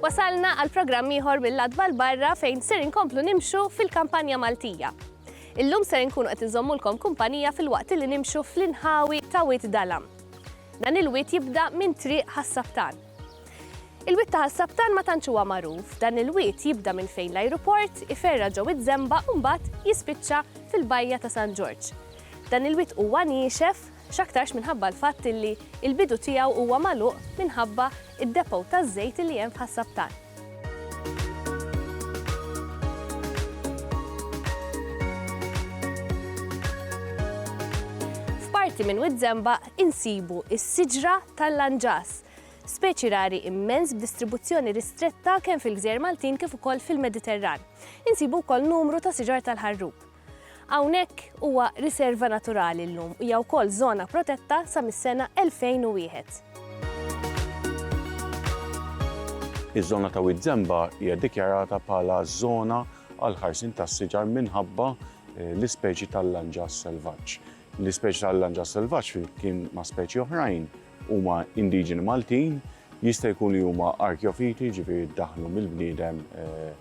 Wasalna għal programm ieħor mill-Adba l-Barra fejn ser inkomplu nimxu fil-kampanja Maltija. Illum ser inkunu qed inżommulkom kumpanija fil-waqt li nimxu fl-inħawi ta' Wit Dalam. Dan il-wied jibda minn triq Ħas-Saftan. Il-wied ta' Ħas-Saftan ma tantx huwa magħruf, dan il-wied jibda minn fejn l-ajruport iferra' ġew iż-Żemba u mbagħad jispiċċa fil-bajja ta' San Ġorġ. Dan il-wied huwa niexef, x'aktarx minħabba l-fatt illi il-bidu tiegħu huwa magħluq minħabba id-depot taż-żejt illi hemm f'Ħas-Saftan. F'parti minn Wied Żemba insibu s-siġra tal-lanġas, speċi rari immens b'distribuzzjoni ristretta kemm fil-gżejjer Maltin kif ukoll fil-Mediterran. Insibu wkoll numru ta' siġar tal-ħarrub. Hawnhekk huwa riserva naturali llum u hija wkoll żona protetta sa mis-sena 2001. Iż-żona ta' Wied Żemba hija ddikjarata bħala żona għall-ħarsien tas-siġar minħabba l-ispeċi tal-lanġas selvaġġ. L-ispeċi tal-lanġas selvaġġ flimkien ma' speċi oħrajn huma indiġeni Maltin, jista' jkun li huma arkjofiti jiġifieri ddaħħlu mill-bniedem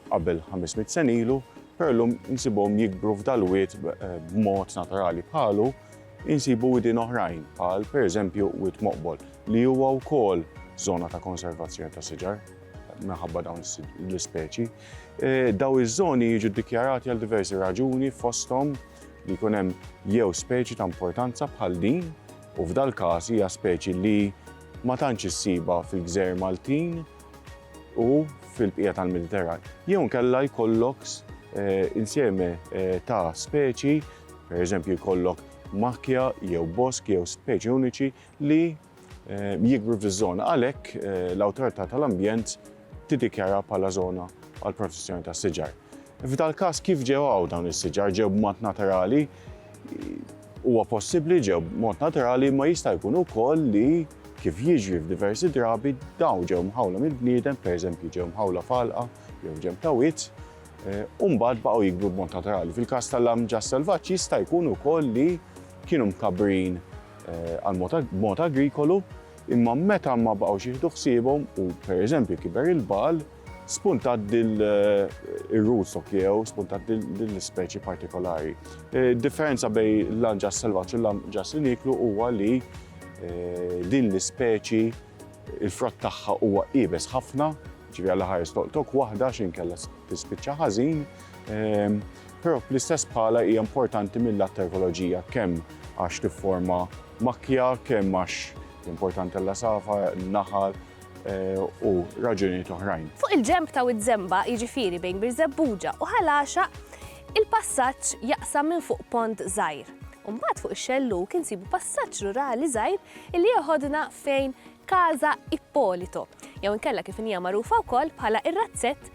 qabel 500 sen ilu, Però llum insibhom jikbru f'dal-wied b'mod naturali. Bħalu insibu widien oħrajn bħal pereżempju Wied Moqbol li huwa wkoll żona ta' konservazzjoni ta' siġar minħabba dawn l-ispeċi. Dawn iż-żoni jiġu ddikjarati għal diversi raġuni fosthom li jkun hemm jew speċi ta' importanza bħal din u f'dal-każ hija speċi li ma tantx issibha fil-gżejjer Maltin, u fil-bqija tal-Mediterran. Jew nkella jkollok eh, insieme eh, ta' speċi, per eżempju jkollok makja jew bosk jew speċi uniċi li eh, jikbru fiż-żona. Għalhekk l-awtorità tal-ambjent tidikjara bħala żona għal protezzjoni tas-siġar. F'dal każ kif ġew hawn dawn is-siġar ġew b'mod naturali Huwa possibbli ġew b'mod naturali imma jista' jkun ukoll li, kif jiġri f'diversi drabi, dawn ġew mħawla mill-bniedem, pereżempju ġew mħawla f'għalqa jew ġenb ta' wied, u mbagħad baqgħu jikbru b'mod naturali. Fil-każ tal-lamġas selvaġġi jista' jkun ukoll li kienu mkabbrin b'mod agrikolu imma meta ma baqgħux jieħdu ħsiebhom u, pereżempju, kiber il-bagħal, spuntat dil ir-root stock jew spuntat din l-ispeċi partikolari. Eh, differenza bej l-anġas selvaġġ u l-anġas li niklu huwa li eh, din l-ispeċi il-frott tagħha huwa ibes ħafna, ġivi għal ħares toqtok waħda x'in kella tispiċċa ħażin, ehm, però fl-istess bħala hija importanti mill-att ekoloġija kemm għax tifforma makja, kemm għax importanti l-lasafa, naħal, u raġunijiet oħrajn. Fuq il-ġenb ta' Wied Żemba, jiġifieri bejn Birżebbuġa u Ħal Għaxaq, il-passaġġ jaqsam minn fuq pont żgħir. U mbagħad fuq ix-xellug insibu passaġġ rurali żgħir illi jeħodna fejn Casa Ippolito, jew inkella kif inhija magħrufa wkoll bħala r-razzett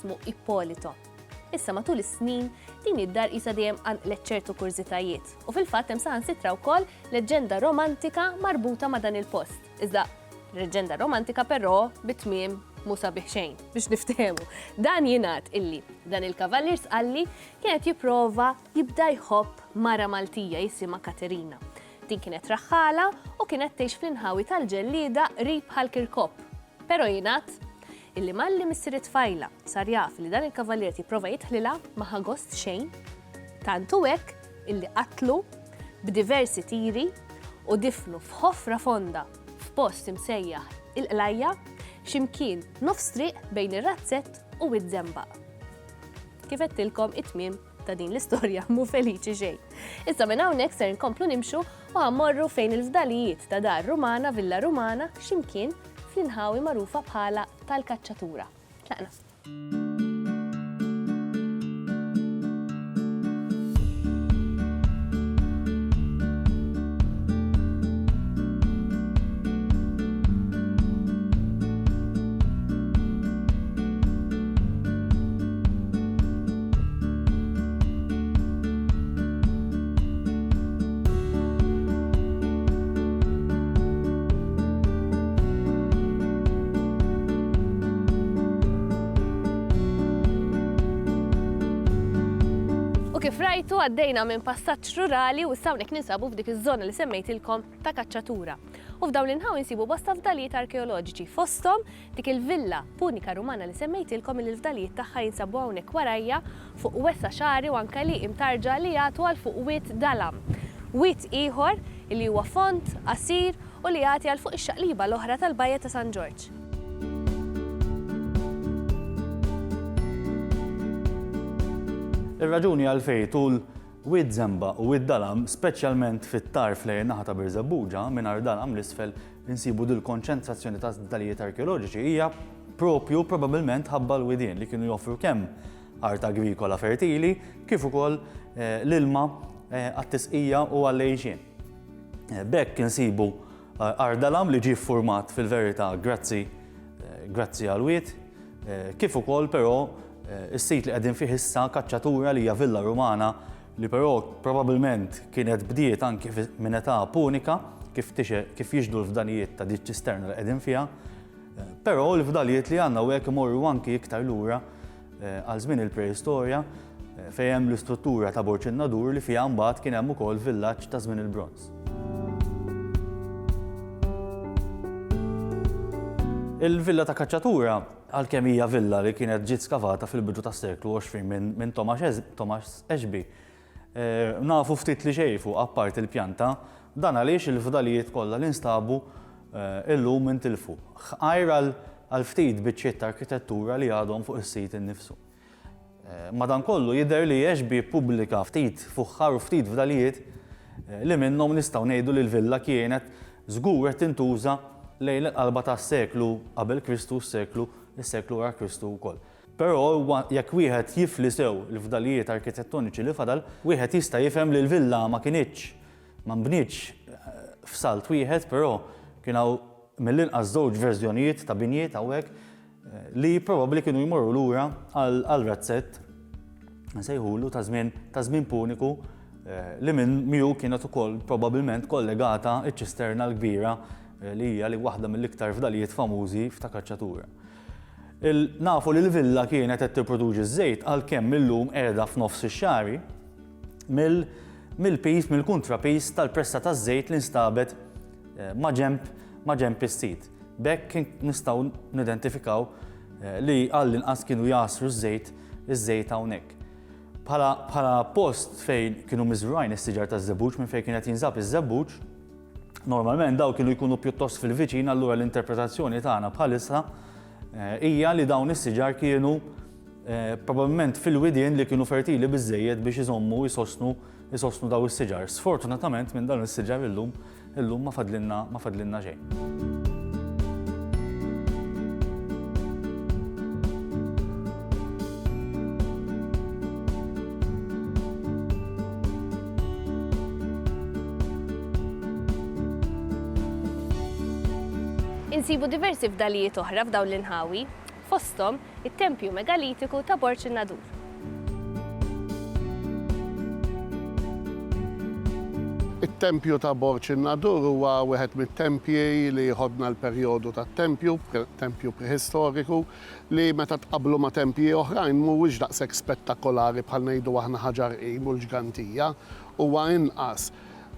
jismu Ippolito. Issa matul is-snin, din id-dar qisha dejjem qanqlet ċertu kurżitajiet u fil-fatt hemm saħansitra wkoll leġġenda romantika marbuta ma' dan il-post. Iżda leġġenda romantika però bi tmiem mhu sabiħ xejn, biex niftehmu. Dan jingħad illi dan il-kavallier Sqalli kien qed jipprova jibda jħobb mara Maltija jisimha Katerina. Din kienet raħħala u kienet tgħix fl-inħawi tal-Ġellieda qrib Ħal Kirkop. Però jingħad Illi malli missier it-tfajla sar jaf li dan il-kavallier qed jipprova jidħlilha ma ħa gost xejn, tant hu hekk illi qatlu b'diversi tiri u difnu f'ħofra fonda f'post imsejjaħ il-Qlajja, xi mkien nofs triq bejn ir-Razzett u Wied Żembaq. Kif għedtilkom it-tmiem ta' din l-istorja mhu feliċi xejn. Issa minn hawnhekk ser nkomplu nimxu u għammorru fejn il-fdalijiet ta' dar Rumana, Villa Rumana, ximkien fl-inħawi magħrufa bħala tal-kaċċatura. Tlaqna. U kif rajtu għaddejna minn passaġġ rurali u issa hawnhekk ninsabu f'dik iż-żona li semmejtilkom ta' kaċċatura. U f'dawn l-inħawi nsibu bosta fdalijiet arkeoloġiċi fosthom Dik il-villa punika Rumana li semmejtilkom illi l-fdalijiet tagħha jinsabu hawnhekk warajja fuq wesgħa xagħri u anke li imtarġa li jagħtu għal fuq wied dalam. Wied ieħor illi huwa fond, qasir u li jagħti għal fuq ix-xaqliba l-oħra tal-Bajja ta' San Ġorġ. Ir-raġuni għalfejn tul Wied Żemba u Wied Dalam, speċjalment fit-tarf lejn in-naħa ta' Birżebbuġa, mingħajr dalam l-isfel, Insibu li l-konċentrazzjoni ta' żdalijiet arkeoloġiċi hija proprju probabbilment ħabba l-widien li kienu joffru kemm art agrikola fertili kif ukoll eh, l-ilma eh, għat-tisqija u għall-għejxien. Eh, b'hekk insibu ardalam li ġie format fil-verità grazzi grazzi għal wied kif ukoll però is-sit li qegħdin fih issa kaċċatura li hija villa Rumana li però probabbilment kienet bdiet anki minn età punika kif tixher kif jixhdu l-fdalijiet ta' din ċ-ċisterna li qegħdin fiha. Però l-fdalijiet li għandna hawnhekk imorru anki iktar lura eh, għal żmien il-preistorja eh, fejn hemm l-istruttura ta' Borċ in-Nadur li fiha mbagħad kien hemm ukoll villaġġ ta' żmien il-bronz. Il-villa ta' kaċċatura Għalkemm hija villa li kienet ġiet skavata fil-bidu tas-seklu 20 minn Thomas Ashby, nafu ftit li xejn fuqha apparti l-pjanta, dan għaliex il-fdalijiet kollha li nstabu illum intilfu, ħgħajr għal ftit biċċiet ta' arkitettura li għadhom fuq is-sit innifsu. Madankollu, jidher li Ashby ppubblika ftit fuħħar u ftit fdalijiet li minnhom nistgħu ngħidu li l-villa kienet żgur qed tintuża lejn il-qalba tas-seklu qabel Kristu u s-seklu s-seklu wara Kristu wkoll. Però huwa jekk wieħed jifli sew il-fdalijiet arkitettoniċi li fadal, wieħed jista' jifhem li l-villa ma kinitx ma nbnietx f'salt wieħed, però kien hawn mill-inqas żewġ verżjonijiet ta' binjiet hawnhekk. li probabbli kienu jmorru lura għal razzett nsejħulu ta' żmien ta' żmien puniku eh, li minn miegħu kienet ukoll probabbilment kollegata ċ-ċisterna l-kbira eh, li hija li waħda mill-iktar fdalijiet famużi f'ta' kaċċatura. Nafu li l-villa kienet qed tipproduċi ż-żejt għalkemm illum qiegħda f'nofs ix-xari mill-pis, mill-kontrapis tal-pressa taż-żejt li nstabet eh, maġemb maġemb is-sit. B'hekk nistgħu nidentifikaw li għall-inqas kienu jgħassru ż-żejt iż-żejt hawnhekk. Bħala post fejn kienu miżrugħin is-siġar taż-żebbuġ minn fejn kien qed jinżab iż-żebbuġ, normalment dawn kienu jkunu pjuttost fil-viċin allura l-interpretazzjoni tagħna bħalissa hija li dawn is-siġar kienu probabbilment fil-widien li kienu fertili biżżejjed biex iżommu jsostnu jsostnu dawn is-siġar. Sfortunatament minn dawn is-siġar illum Illum ma fadlilna ma fadlilna xejn. Insibu diversi fdalijiet oħra f'dawn l-inħawi. fosthom it-tempju megalitiku ta' Borg in-Nadur. It-tempju ta' Borg in-Nadur huwa wieħed mit-tempji li jħoddna l-perjodu tat-tempju, tempju preħistoriku, li meta tqabblu ma' tempji oħrajn mhuwiex daqshekk spettakolari bħal ngħidu aħna Ħaġar Qim u l-Ġgantija, huwa inqas.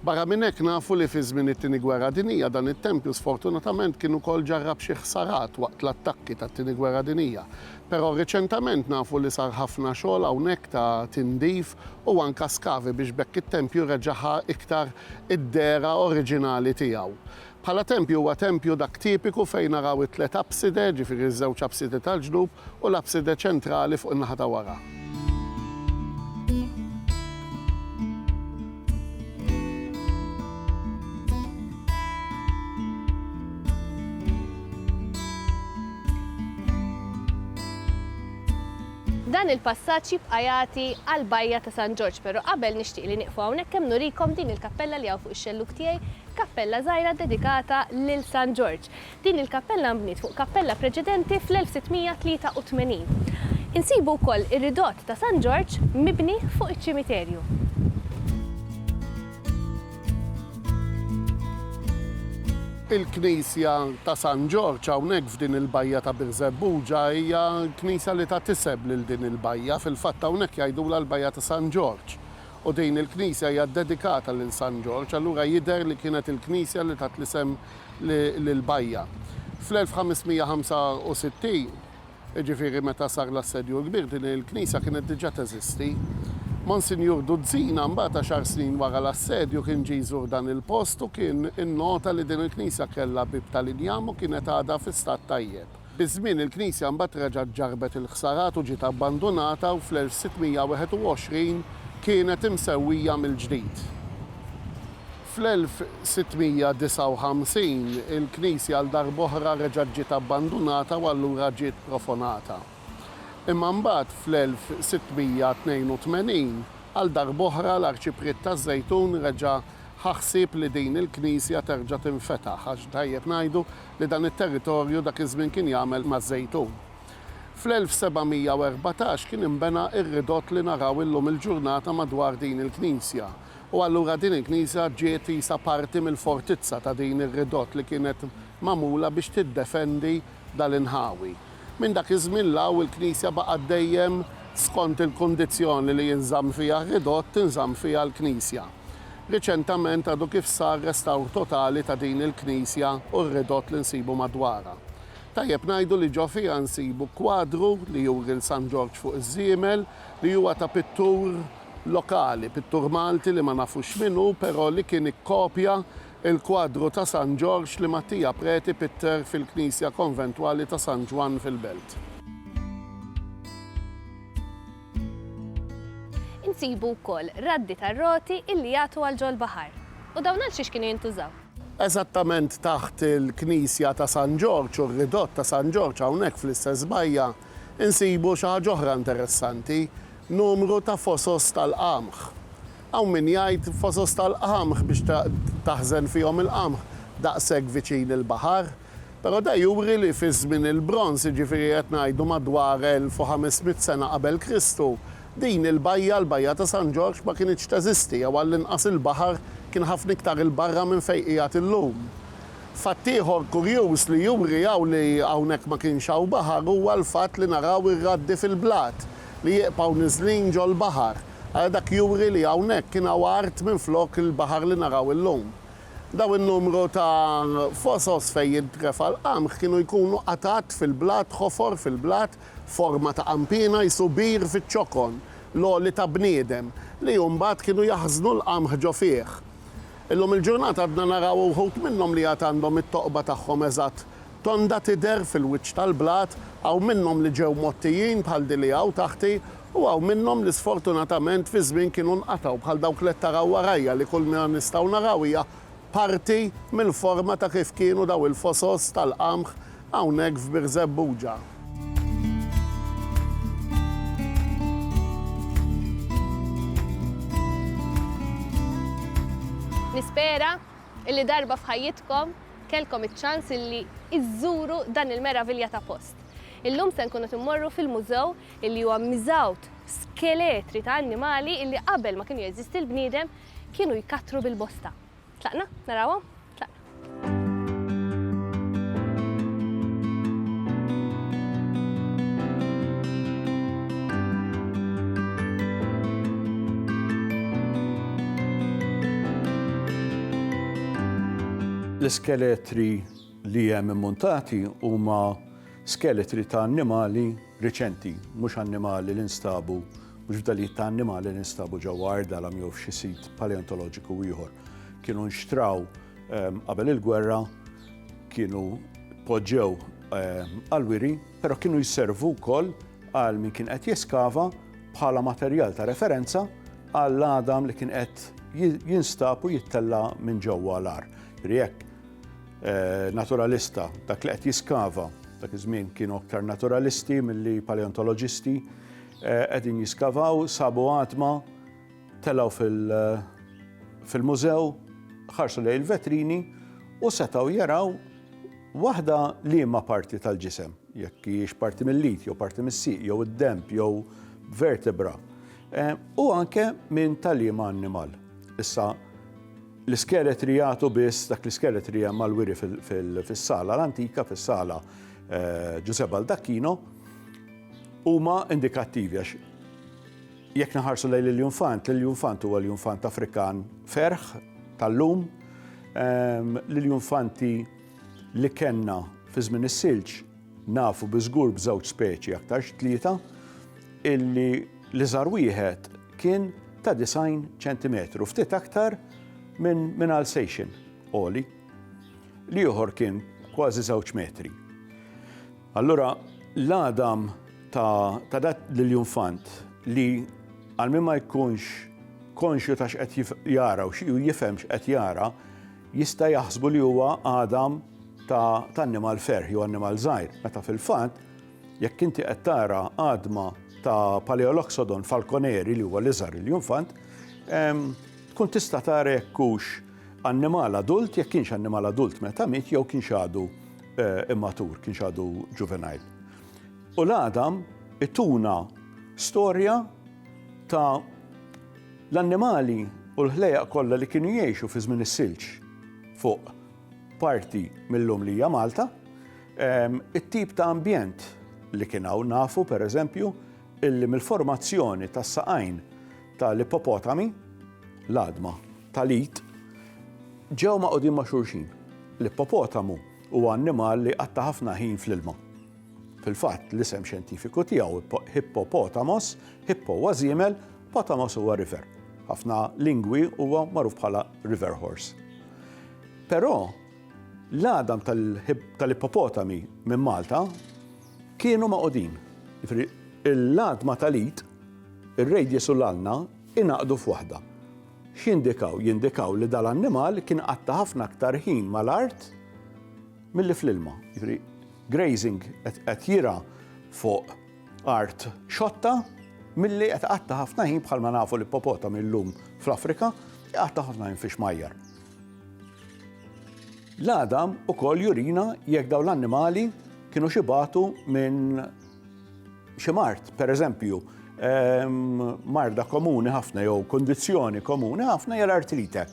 Barra minn hekk, nafu li fi żmien it-Tieni Gwerra Dinjija dan it-tempju sfortunatament kien ukoll ġarrab xi ħsarat waqt l-attakki tat-Tieni Gwerra Dinjija. Però riċentament nafu li sar ħafna xogħol hawnhekk ta' tindif u anke skavi biex b'hekk it-tempju reġa' ħa iktar id-dehra oriġinali tiegħu. Bħala tempju huwa tempju dak tipiku fejn naraw it-tliet apside, ġifieri ż-żewġ apside tal-ġnub u l-apside ċentrali fuq in-naħa ta' wara. Dan il-passaġġ jibqa' jagħti għall-bajja ta' San Ġorġ, però qabel nixtieq li nieqfu hawnhekk kemm nurikom din il-kappella li hawn fuq ix-xellug tiegħi Kappella żgħira ddedikata lil San Ġorġ. Din il-kappella nbniet fuq kappella preċedenti fl-1683. Insibu wkoll ir-ridott ta' San Ġorġ mibni fuq iċ-ċimiterju. Il-knisja ta' San Ġorġ hawnhekk f'din il-bajja ta' Birżebbuġa hija knisja li tat isem lil din il-bajja. Fil-fatt hawnhekk jgħidulha l-bajja ta' San Ġorġ U din il-knisja hija ddedikata lil San Ġorġ, allura jidher li kienet il-knisja li tat l-isem lill-bajja. Fl-1565, jiġifieri meta sar l-Assedju l-Kbir, din il-knisja kienet diġà teżisti. Monsinjur Duzzina mbagħad għaxar snin wara l-Assedju kien ġie jżur dan il-post u kien innota li din il-knisja kellha bieb tal-injam u kienet għadha fi stat tajjeb. Biż-żmien il-knisja mbagħad reġgħet ġarrbet il-ħsarat u ġiet abbandunata u fl-1621 kienet imsewwija mill-ġdid. Fl-1659 il-knisja għal darb'oħra reġgħet ġiet abbandunata u allura ġiet profonata. Imma mbagħad fl-1682 għal darb'oħra l-Arċipriet taż-Żejtun reġa' ħa ħsieb li din il-knisja terġa' tinfetaħ għax tajjeb ngħidu li dan it-territorju dak iż-żmien kien jagħmel maż-żejtun. Fl-1714 kien inbena r-ridott li naraw illum il-ġurnata madwar din il-knisja u allura din il-knisja ġiet qisha parti mill-fortizza ta' din ir-ridott li kienet magħmula biex tiddefendi dal-inħawi. Minn dak iż-żmien 'l hawn il-knisja baqgħet dejjem skont il-kundizzjoni li jinżamm fiha r-ridott tinżamm fiha l-knisja. Riċentament għadu kif sar restawr totali ta' din il-knisja u r-ridott li nsibu madwarha. Tajjeb ngħidu li ġo fiha nsibu kwadru li juri 'l San Ġorġ fuq iż-żiemel li huwa ta' pittur lokali, pittur Malti li ma nafux min hu però li kien ikkopja l-kwadru ta' San Ġorġ li Mattia Preti pitter fil-knisja konventwali ta' San Ġwann fil-Belt. Insibu wkoll raddi tar-roti illi jagħtu għal ġol-baħar. U dawn għal xiex kienu jintużaw? Eżattament taħt il-knisja ta' San Ġorġ u r-ridott ta' San Ġorġ hawnhekk fl-istess bajja insibu xi ħaġa oħra interessanti, numru ta' fosos tal-qamħ. Hawn min jgħid fosos tal-qamħ biex taħżen fihom il-qamħ daqshekk viċin il-baħar. Però da juri li fi Żmien il-Bronż, jiġifieri qed ngħidu madwar 1500 sena qabel Kristu, din il-bajja, l-Bajja ta' San Ġorġ, ma kinitx teżisti jew għall-inqas il-baħar kien ħafna iktar 'il barra minn fejn qiegħed illum. Fatt ieħor kurjuż li juri hawn li hawnhekk ma kienx hawn baħar huwa l-fatt li naraw ir-raddi fil-blat li jieqbgħu niżlin ġol-baħar. Ara dak juri li hawnhekk kien hawn art minflok il-baħar li naraw illum. Dawn in-numru ta' fosos fejn jintrefa' l-qamħ kienu jkunu qatgħat fil-blat, ħofor fil-blat f'forma ta' qanpiena qisu bir fiċ-ċokon l-għoli ta' bniedem, li mbagħad kienu jaħżnu l-qamħ ġo fih. Illum il-ġurnata għadna naraw uħud minnhom li għad għandhom it-toqba tagħhom eżatt tonda tidher fil-wiċċ tal-blat, hawn minnhom li ġew mgħottijin bħal din li hawn taħti U hawn minnhom li sfortunatament fi żmien kienu nqatgħu, bħal dawk li qed taraw warajja li kull ma nistgħu naraw hija parti mill-forma ta' kif kienu dawn il-fosos tal-qamħ hawnhekk f'Birżebbuġa. Nispera illi darba f'ħajjitkom kellkom iċ-ċans illi iżżuru dan il-meravilja ta' post. Illum se nkunu qed immorru fil-Mużew illi huwa miżgħud f'skeletri ta' annimali illi qabel ma kienu jeżisti l-bniedem kienu jkattru bil-bosta. Tlaqna? Narawhom? L-iskeletri li hemm immuntati huma skeletri ta' annimali, riċenti mhux annimali li nstabu, mhux fdalijiet ta' annimali li nstabu ġewwa Għar Dalam jew f'xi sit paleontoloġiku ieħor. Kienu nxtraw qabel il-gwerra, kienu tpoġġew għall-wiri, però kienu jservu wkoll għal min kien qed jeskava bħala materjal ta' referenza għall-għadam li kien qed jinstab u jittella' minn ġewwa l-għar. Jiġifieri jekk naturalista, dak li qed jiskava, dak iż-żmien kienu aktar naturalisti milli paleontoloġisti, eh, qegħdin jiskavaw, sabu għatma, telaw fil-mużew, ħarsu lej il-vetrini u setaw jaraw waħda liema parti tal-ġisem, jekk hiex parti mill-lid, jew parti mis-siq, jew id-demp, jew vertebra. Eh, u anke minn tal-liema annimal. Issa, L-iskeletri jagħtu biss dak l-iskeletri hemm mal-wiri fis-sala l-antika, fis-sala eh, Ġużè Baldacchino, huma indikattivi għax jekk naħarsu lejn l-Junfant, l-Junfant huwa l-Junfant Afrikan ferħ tal-lum, ehm, l-Junfanti li kenna fi żmien is-silġ Nafu bi żgur b'żewġ speċi, aktarx tlieta, illi l-iżgħar wieħed kien ta' 90 ċentimetru, ftit aktar minn Alsatian għoli. L-ieħor kien kważi żewġ metri. Allura, l-għadam ta' dat l-iljunfant li għal min ma jkunx konxju ta' x'qed jara u xi jifhem x'qed jara, Jista' jaħsbu li huwa għadam ta' annimal ferħ jew annimal żgħir, meta fil-fatt jekk inti qed tara għadma ta' Paleoloxodon falconeri li huwa l-iżgħar il-junfant, ehm, tkun tista' tara jekk hux annimal adult, jekk kienx annimal adult meta miet jew kienx għadu eh, immatur, kienx għadu juvenile. U l-għadam ituna storja ta' L-annimali u l-ħlejjaq kollha li kienu jgħixu fi żmien is-silġ fuq parti mil-lum li hija Malta, it-tip ta' ambjent li kien hawn nafu, per eżempju, illi mill-formazzjoni tas-saqajn tal-ippopotami, l-għadma tal-id, ġew magħqudin ma' xulxin. L-ippopotamu huwa annimal li jqatta' ħafna ħin fl-ilma. Fil-fatt, l-isem xjentifiku tiegħu, Hippopotamos, hippo huwa żiemel, Potamos huwa river. F'ħafna lingwi huwa magħruf bħala river horse. Però l-għadam tal-ippopotami minn Malta kienu magħqudin. Jiġifieri l-għadma tal-id, ir-radius u l-ulna ingħaqdu f'waħda. X'jindikaw? Jindikaw li dal-annimal kien qatta' ħafna aktar ħin mal-art milli fl-ilma. Jiġifieri grazing qed jirgħa fuq Art xotta milli qed iqatta' ħafna ħin bħalma nafu l-ippopotami llum fl-Afrika iqatta' ħafna ħin fix-xmajjar. L-għadam ukoll jurina jekk dawn l-annimali kienu xibatu minn xi mart, pereżempju, ehm, marda komuni ħafna jew kondizzjoni komuni ħafna jara artrite.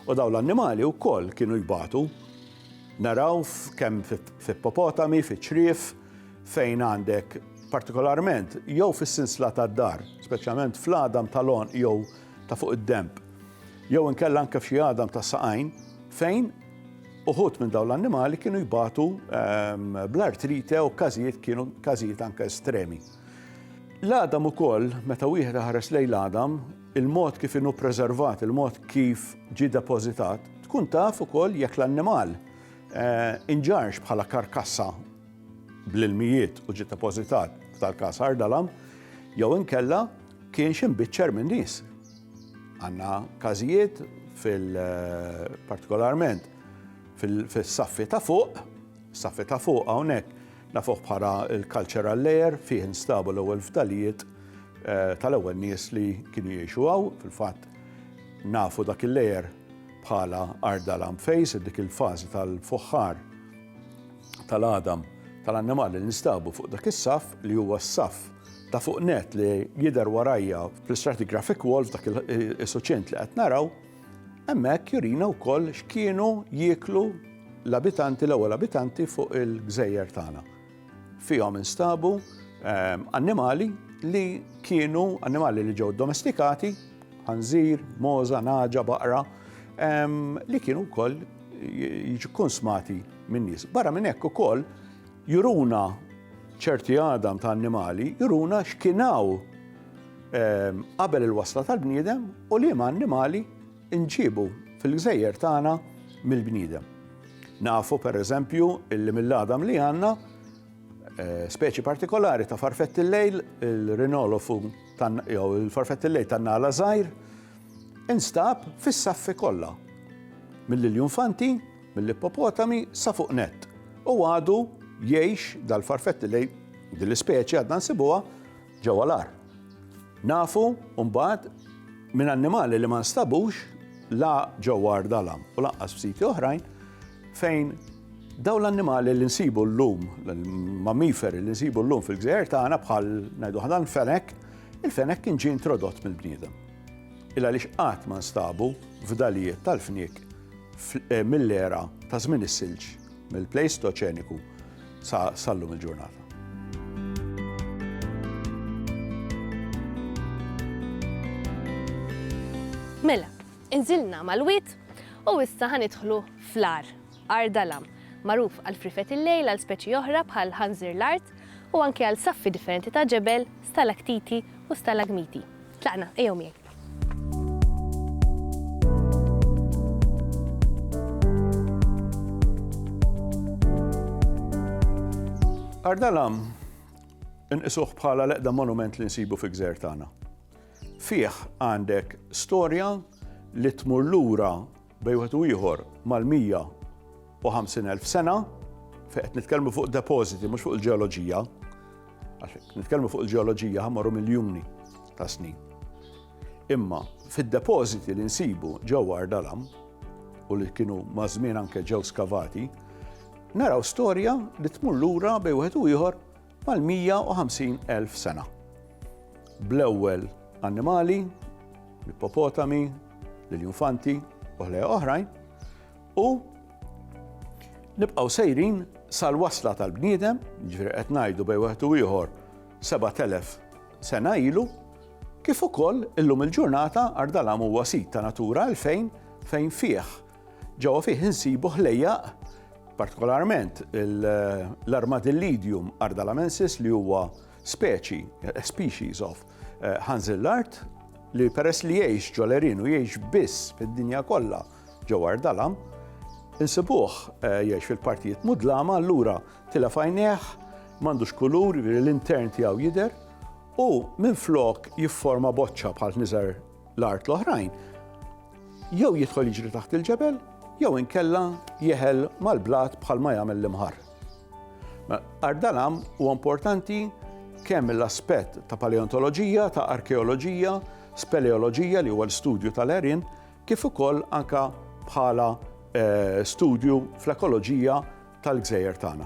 U daw l-annimali wkoll kienu jbatu. Naraw kemm fi popotami, fi ċrif, fejn għandek partikolarment jew fis-sinsla tad-dar, speċjalment fl-għadam tal-għonq jew ta' fuq id-denb, jew inkella anke f'xi għadam tas-saqajn, fejn uħud minn dawn l-annimali kienu jbatu ehm, bl-artrite u każijiet kienu każijiet anke estremi. L-għadam ukoll, meta wieħed ħares lejn l-għadam, il-mod kif inhu preservat, il-mod kif ġi depożitat, tkun taf ukoll jekk l-annimal eh, inġarx bħala karkassa bl-ilmijiet u ġie depożitat f'tal-każ ħardala, jew inkella kienx imbiċċer minn nies. Għandna każijiet fil-partikolarment fil-saffi ta' fuq, saffi ta' fuq hawnhekk nafuh bħala l-cultural layer fih instabu l-ewwel fdalijiet eh, tal-ewwel nies li kienu jgħixu hawn, fil-fatt nafu dak il-layer bħala arda lamfejs, dik il-fażi tal-fuħħar tal-għadam tal-annimali li nstabu fuq dak is-saff li huwa s-saff ta' fuq net li jidher warajja fl-stratigraphic wall f'dak il-suċċent li qed naraw, hemmhekk jurina wkoll x'kienu jieklu l-abitanti, l-ewwel abitanti fuq il-gżejjer tagħna. Fihom instabu annimali li kienu annimali li ġew domestikati, ħanżir, moza, naġa, baqra, li kienu wkoll jiġu konsmati minn nies. Barra minn hekk ukoll juruna ċerti għadam ta' annimali, juruna x'kienaw qabel il-wasla tal-bniedem u li ma' annimali inġiebu fil-gżejjer tagħna mill-bniedem. Nafu pereżempju illi mill-għadam li għandna eh, speċi partikolari ta' farfett il-lejl, il-rinolofu jew il-farfett il-lejl tan-nala żgħir, instab fis-saffi kollha. Mill-iljufanti, mill-ippopotami sa fuq net. U għadu jgħix dal-farfett il-lejl dil-ispeċi għadna nsibuha ġewwa l-għar. Nafu mbagħad minn annimali li ma nstabux la ġewwa Ardalam u lanqas f'siti oħrajn fejn daw l-annimali li nsibu llum, l-mammiferi li nsibu llum fil-gżejjer tagħna bħal ngħidu ħadan fenek, il-fenek kien ġie introdott mill-bniedem. Illa li xqat ma nstabu f'dalijiet tal-fniek eh, mill-era ta' żmien is-silġ, mill-plejstoċeniku sa sal-lum il-ġurnata. Mela, inżilna mal-wit u issa ħanidħlu fl-ar, ar dalam, magħruf għal frifet il-lejl għal speċi oħra bħal ħanżir l-art u anke għal saffi differenti ta' ġebel, stalaktiti u stalagmiti. Tlaqna, ejjew miegħi. Ardalam inqisuh bħala l-eqda monument li nsibu fi gżer tagħna. Fih għandek storja li tmur lura bejn wieħed u ieħor mal-150,000 sena, fejn qed nitkellmu fuq depożiti mhux fuq il-ġeoloġija, għax nitkellmu fuq il-ġeoloġija ħamorru miljuni ta' snin. Imma fid-depożiti li nsibu ġewwa Ardalam u li kienu mażmien anke ġew skavati, naraw storja li tmur lura bejn wieħed u ieħor mal-150,000 sena. Bl-ewwel annimali, l-ippopotami, l-iljufanti u ħlejja oħrajn, u nibqgħu sejrin sal-wasla tal-bniedem, ġifieri qed ngħidu bejn wieħed u ieħor 7000 sena ilu, kif ukoll illum il-ġurnata Ardalam huwa sit ta' Natura 2000 fejn fih Ġewwa fih insibu ħlejjaq, partikolarment l-Armadillidium ardalamensis li huwa speċi, species of, eh, ħanżillart li peress li jgħix ġo l-Erin u jgħix biss fid-dinja kollha ġo Ardalam, insibuh eh, jgħix fil-partijiet mudlama allura tilef għajnejh m'għandux kulur, l-intern tiegħu jidher u minflok jifforma boċċa bħal niżar l-art l-oħrajn, jew jidħol jiġri taħt il-ġebel, jew inkella jeħel mal-blat bħal ma jagħmel l-imħar. Ardalam huwa importanti kemm l-aspett ta' paleontoloġija, ta' arkeoloġija, speleoloġija li huwa l-studju tal-erin, kif ukoll anka bħala eh, studju fl-ekoloġija tal-gżejjer tagħna.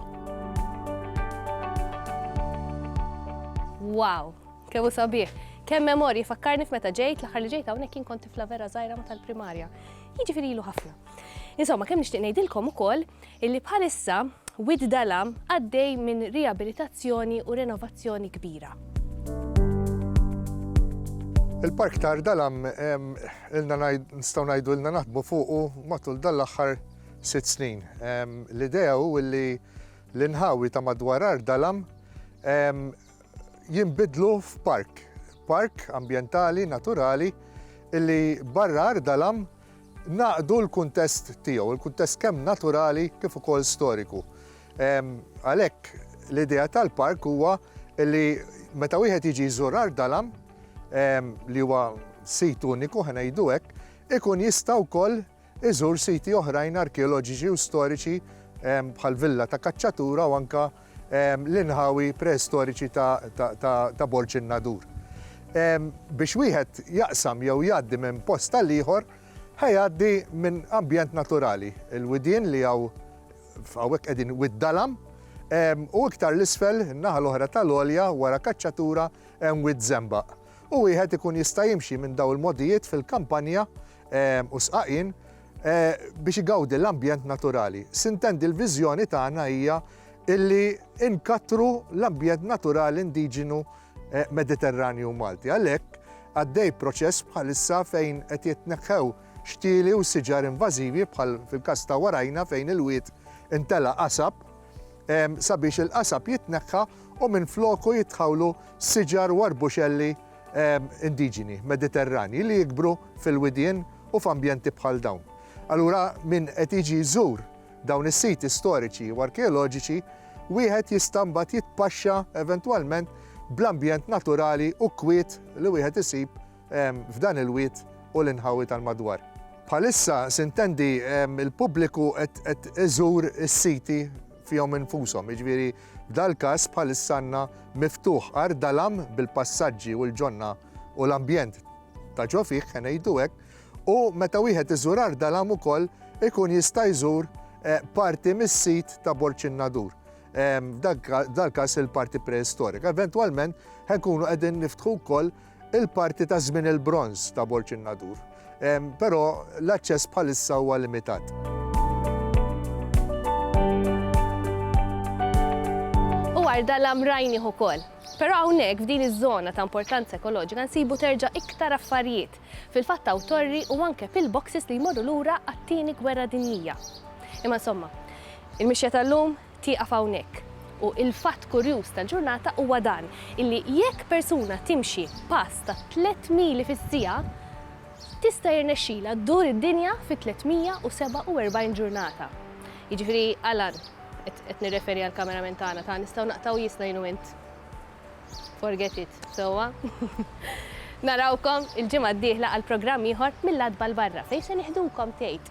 Wow, kemm hu sabiħ. Kemm memorji fakkarni f'meta ġejt l-aħħar li ġejt hawnhekk kien kont tifla vera żgħira ma tal-primarja. Jiġifieri ilu ħafna. Insomma, kemm nixtieq ngħidilkom ukoll illi bħalissa Wid Dalam għaddej minn riabilitazzjoni u renovazzjoni kbira. Il-park tar Dalam ilna nistgħu ngħidu ilna naħdmu fuqu matul dal-aħħar sitt snin. L-idea hu li l-inħawi ta' madwar Art Dalam jinbidlu f'park, park ambjentali naturali li barra Art Dalam naqdu l-kuntest tiegħu, il-kuntest kemm naturali kif ukoll storiku. Għalhekk l-idea tal-park huwa li meta wieħed jiġi jżur Art Dalam li huwa sit uniku ħanejdu hekk, ikun jista' wkoll Iżur siti oħrajn arkeoloġiċi u storiċi bħall-villa ta' Cacciatura u anke l-inħawi preistoriċi ta' Borg in-Nadur. Biex wieħed jaqsam jew jgħaddi minn post għal ieħor, ħa jgħaddi minn ambjent naturali, il-widien li hawn hawnhekk qegħdin Wied Dalam, u iktar 'l isfel, in-naħa l-oħra tal-għolja wara Cacciatura hemm Wied Żembaq. u wieħed ikun jista' jimxi minn dawn il-mogħdijiet fil-kampanja u sqaqien biex igawdi l-ambjent naturali. Sintendi l-viżjoni tagħna hija illi nkattru l-ambjent naturali indiġenu Mediterranju Malti. Għalhekk għaddej proċess bħalissa fejn qed jitneħħew xtieli u siġar invażivi bħal fil-każ ta' warajna fejn il-wied intelgħa qasab, sabiex il-qasab jitneħħa u minfloku jitħawlu siġar u arbuxelli indiġeni Mediterranji li jikbru fil-widien u f'ambjenti bħal dawn. Allura min qed jiġi jżur dawn is-siti storiċi u arkeoloġiċi wieħed jista' mbagħad jitpaxxa eventwalment bl-ambjent naturali u kwiet li wieħed isib f'dan il-wied u l-inħawi tal-madwar. Bħalissa sintendi l-pubbliku qed iżur is-siti fihom infushom, jiġifieri f'dal-każ bħalissa għandna miftuħ Għar Dalam bil-passaġġi u l-ġonna u l-ambjent ta' ġo fih, ħa ngħidu hekk, u meta wieħed iżur Għar Dalam ukoll ikun jista' jżur parti mis-sit ta' Borġ in-Nadur, f'dal-każ il-parti preistorika. Eventwalment ħa nkunu qegħdin niftħu wkoll il-parti ta' żmien il-Bronż ta' Borg in-Nadur, però l-aċċess bħalissa huwa limitat. Dwar dalam rajnih ukoll. Però hawnhekk f'din iż-żona ta' importanza ekoloġika nsibu terġa' iktar affarijiet. Fil-fatt hawn torri u anke pillboxes li jmorru lura għat-tieni gwerra dinjija. Imma insomma, il-mixja tal-lum tieqaf hawnhekk. U il-fatt kurjuż tal-ġurnata huwa dan, illi jekk persuna timxi pass ta' tliet mili fis-siegħa, tista' jirnexxilha ddur id-dinja fi 347 ġurnata. Jiġifieri, Alan, qed nirreferi għall-cameraman tagħna, ta' nistgħu naqtgħu jiesna jien u int? Forget it, sewwa? Narawkom il-ġimgħa d-dieħla għal programm ieħor mill-Għatba 'l Barra, fejn se nieħdukom, tgħid.